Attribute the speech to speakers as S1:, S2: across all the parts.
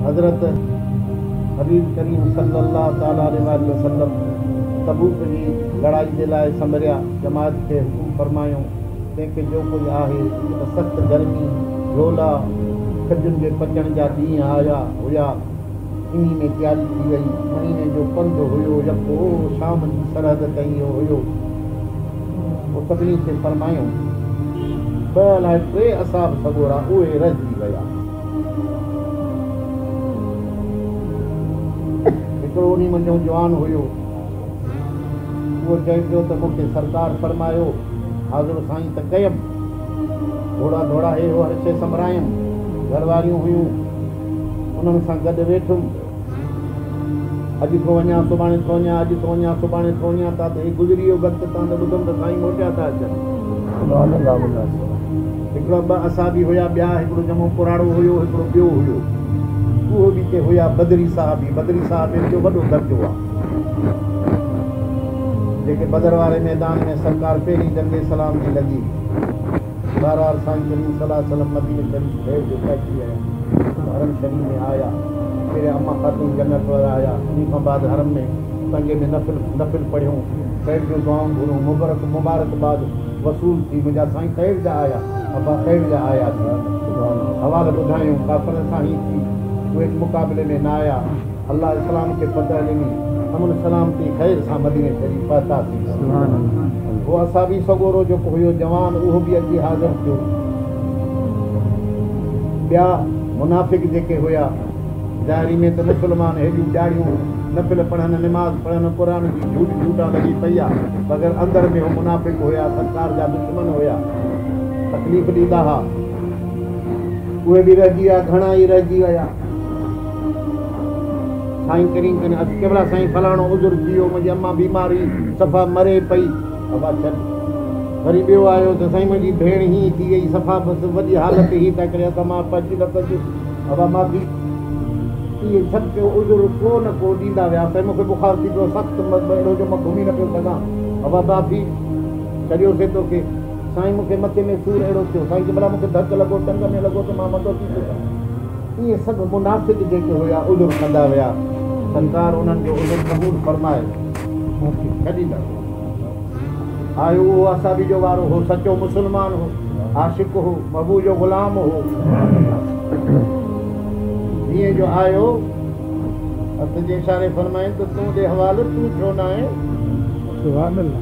S1: حضرت حبيب ڪريم صلّي اللّٰه تعالٰي عليه واٰله وسلّم تبوڪ جي لڙائي جي لاء سمريا جماعت کي حڪم فرمايو، تنهن کي جو ڪجهه آهي ته سخت گرمي، لولا، کجن جي پچڻ جا ڏينهن آيا هيا، انهي ۾ تياري ٿي وئي، مهيني جو پنڌ هيو يڪو شام جي سرحد تائين هيو. پوء سڀني کي فرمايائون، ٻه الاء ٽي اصحاب سڳورا اهي رهجي ويا. هڪڙو انهي منجهئون جوان هيو. اهو چئي پيو ته مون کي سرڪار فرمايو، حاضر سائين ته ڪيم. گهوڙا ڌوڙائي هو هر شيء سنڀرايم. گهر واريون هيون، انهن سان گڏ ويٺم. اڄ ٿو وڃان سڀاڻي ٿو وڃان اڄ ٿو وڃان سڀاڻي ٿو وڃان تان ته هي گذري ويو وقت تان ته ٻڌم ته سائين موٽيا ٿا اچن. هڪڙا ٻه اصحابي هيا ٻيا هڪڙو جمعو پراڙو هيو هڪڙو ٻيو هيو اهو به ڪي هيا بدري صحابي بدري صحابين جو وڏو درجو آ جيڪي بدر واري ميدان ۾ سرڪار پهرين جنگ اسلام جي لڳي بهرحال سائين ڪريم صلي الله عليه وسلم مديني شريف ڀيڙ جو طئي ٿي ويا ته حرم شريف ۾ آيا پهريان اما خاتون جنت وارا آيا انهي کان بعد حرم ۾ تنگي ۾ نفل نفل پڙهيون خير جون دعائون گهريون مبرڪ مبارڪ باد وصول ٿي منهنجا سائين خير جا آيا ابا خير جا آيا ٿي حوال ٻڌايون ڪافرن سان هي ٿي اهي به مقابلي ۾ نه آيا. الله اسلام کي فتح ڏني، امن سلامتي خير سان مديني شريف پهتاسين. سبحان الله. هو اصحابي سڳورو جيڪو هيو جوان اهو به اچي حاضر ٿيو. ٻيا منافق جيڪي هيا ظاهري ۾ ته مسلمان هيڏيون ڏاڙهيون نفل پڙهن نماز پڙهن قرآن جي جهوٽ جهوٽان لڳي پئي آ مگر اندر ۾ هو منافق هيا سرڪار جا دشمن هيا تڪليف ڏيندا ها اهي به رهجي ويا گهڻا ئي رهجي ويا. سائين ڪريم ڪني عرض ڪيولا سائين فلاڻو عذر ٿي ويو منهنجي امان بيمار هئي صفا مري پئي ابا ڇڏ وري ٻيو آيو ته سائين منهنجي ڀيڻ هي ٿي وئي صفا بس وڏي حالت هي ته ڪري اسان مان پچي نه پچي ابا معافي اهي سڀ ڪيو عذر ڪو نه ڪو ڏيندا ويا سائين مونکي بخار ٿي پيو سخت اهڙو جو مان گهمي نه پيو سگهان ابا معافي ڇڏيوسي توکي سائين مونکي مٿي ۾ سور اهڙو ٿيو سائين جي ڀلا مونکي ڌڪ لڳو ٽنگ ۾ لڳو ته مان مندو ٿي سگهان اهي سڀ منافق جيڪي هيا عذر ڪندا ويا سرڪار انهن جو عذر قبول فرمائي انهن کي ڇڏيندا ويا آيو اهو اصحابي جو وارو هو سچو مسلمان هو عاشق هو محبوب جو غلام هو جيئن جو آيو حضرت جي اشاري فرمائين ته تون ڏي حوالو تون ڇو نه آهين سبحان الله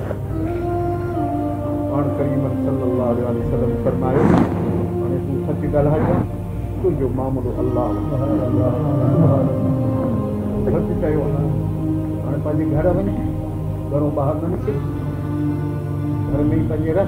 S1: پاڻ ڪريم صلّي اللّٰه عليه واٰله وسلّم فرمايو، هاڻي تون سچ ڳالهائي ها، تنهنجو معاملو الله سان سچ چيو ها، هاڻي پنهنجي گهر وڃ، گهرون ٻاهر نه نڪر، گهر ۾ ئي پنهنجي رهه.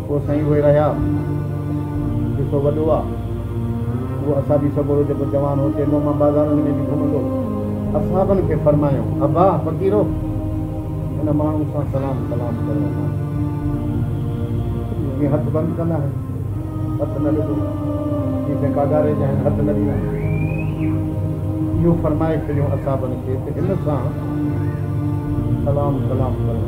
S1: پوء سائين اهي رهيا جيڪو وڏو آ اهو اصابي سڳورو جيڪو جوان هو چيندو هو مان بازارن ۾ به گهمندو اصحابن کي فرمايائون ابا فقيرو هن ماڻهو سان سلام ڪلام ڪرڻو ناهي جيئن هٿ بند ڪندا آهن هٿ نه ڏبو جيئن ڪنهن ڪاڳاري جا آهن هٿ نه ڏيندا آهن اهو فرمائي ڇڏيو اصحابن کي ته هن سان سلام ڪلام ڪرڻو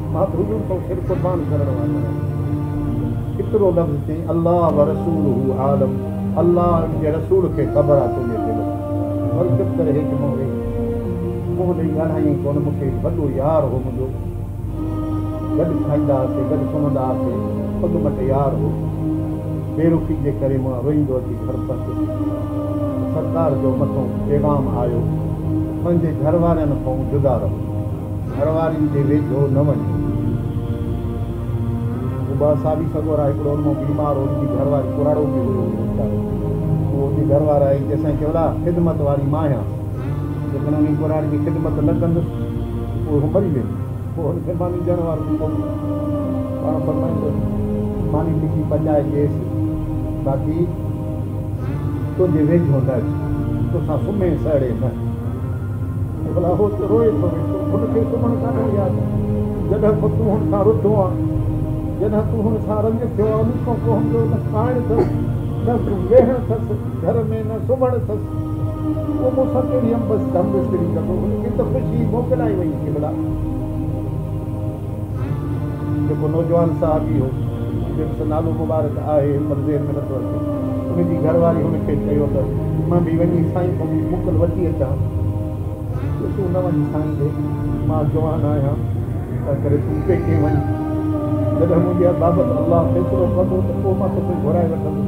S1: محب حضور ڪو سر قربان ڪرڻ وارو آهي ڪيترو لفظ چئين الله ورسوله عالم الله ۽ ان جي رسول کي خبر آهي تنهنجي دل ۾ پر چپ ڪري هيٺ منهن ويهي منهن ڏئي ڳالهائينء ڪونه مون کي هڪ وڏو يار هو منهنجو گڏ کائيندا هئاسي گڏ سمهندا هئاسي پڳ مٽ يار هو بي رخي جي ڪري مان روئيندو اچي گهر پهتس ته سرڪار جو مٿئون پيغام آيو پنهنجي گهر وارين کئون جدا رهو. گهر وارين جي ويجهو نه وڃو. هو ٻه ساوي سڳور آهي، هڪڙو انمو بيمار هو، ان جي گهر واري ڪراڙو ٿي ويو هو ويچارو. هو ان جي گهر واري آئي، چيسائين ڪيولا خدمت واري مان آهيان، جيڪڏهن ان جي ڪراڙي جي خدمت نه ڪندس ته پوء هو مري ويندي. پوء هن کي ماني ڏيڻ وارو به ڪونهي. پاڻ فرمائين ته ماني لکي پچائي ڏيس، باقي تنهنجي ويجهو نه اچي، توسان سمهي سهڙي نه. ڀلا هو ته روئي ٿو ويٺو هن کي سمهڻ ڪانه ڏي آ ته جڏهن کان تون هن سان رڌو آ جڏهن تون هن سان رنگ ٿيو آ ان کان پوء هن جو نه کائڻ اٿس نه ويهڻ اٿس گهر ۾ نه سمهڻ اٿس تون مون سان ڪهڙي امبس ڍم مستري ڪندو هن کي ته خوشي موڪلائي وئي ٿي ڀلا جيڪو نوجوان صحابي هو جنهن جو نالو مبارڪ آهي پر ذهن ۾ نٿو اچي ان جي گهر واري هن کي چيو ته مان به وڃي سائين کان موڪل وٺي اچان ته تون نه وڃ سائين ڏي مان جوان آهيان تنهنڪري تون پيڪي وڃ جڏهن منهنجي بابت الله فيصلو ڪندو ته پوء مان توکي گهرائي وٺندس.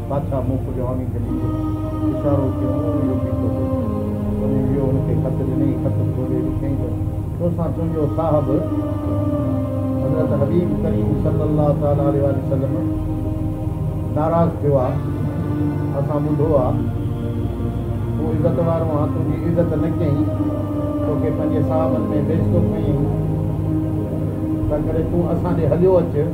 S1: ڪاٿا مون ڪجهه آڻي کي ڏيندو؟ اشارو ڪيو مون به اهو پيتو هو. وڃي ويو هن کي خط ڏنئي، خط کولي ڏٺئي ته تو سان تنهنجو صاحب حضرت حبيب ڪريم صلي الله تعالٰي عليه واٰله وسلم ناراض ٿيو آ، اسان ٻڌو آ، تون عزت وارو آهين، تنهنجي عزت نه ڪيائين، توکي پنهنجي صاحبن ۾ بيعزتو ڪيائين، تنهنڪري تون اسان ڏي هليو اچ.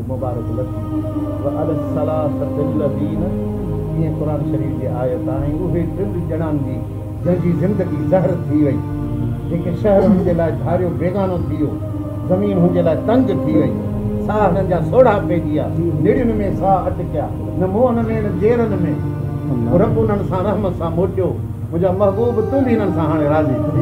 S1: مبارڪ لٿي وعلي الثلاثة الذين جيئن قرآن شريف جي آيت آهي ۽ اهي ٽن ڄڻان جي جنهن جي زندگي زهر ٿي وئي جيڪي شهر هن جي لاء ڌاريو بيگانو ٿي ويو زمين هن جي لاء تنگ ٿي وئي ساهه هنن جا سوڙها پئجي ويا نڙين ۾ ساهه اٽڪيا نه موهن ۾ نه جيرن ۾ پوء رب انهن سان رحم سان موٽيو منهنجا محبوب تون به هنن سان هاڻي راضي ٿي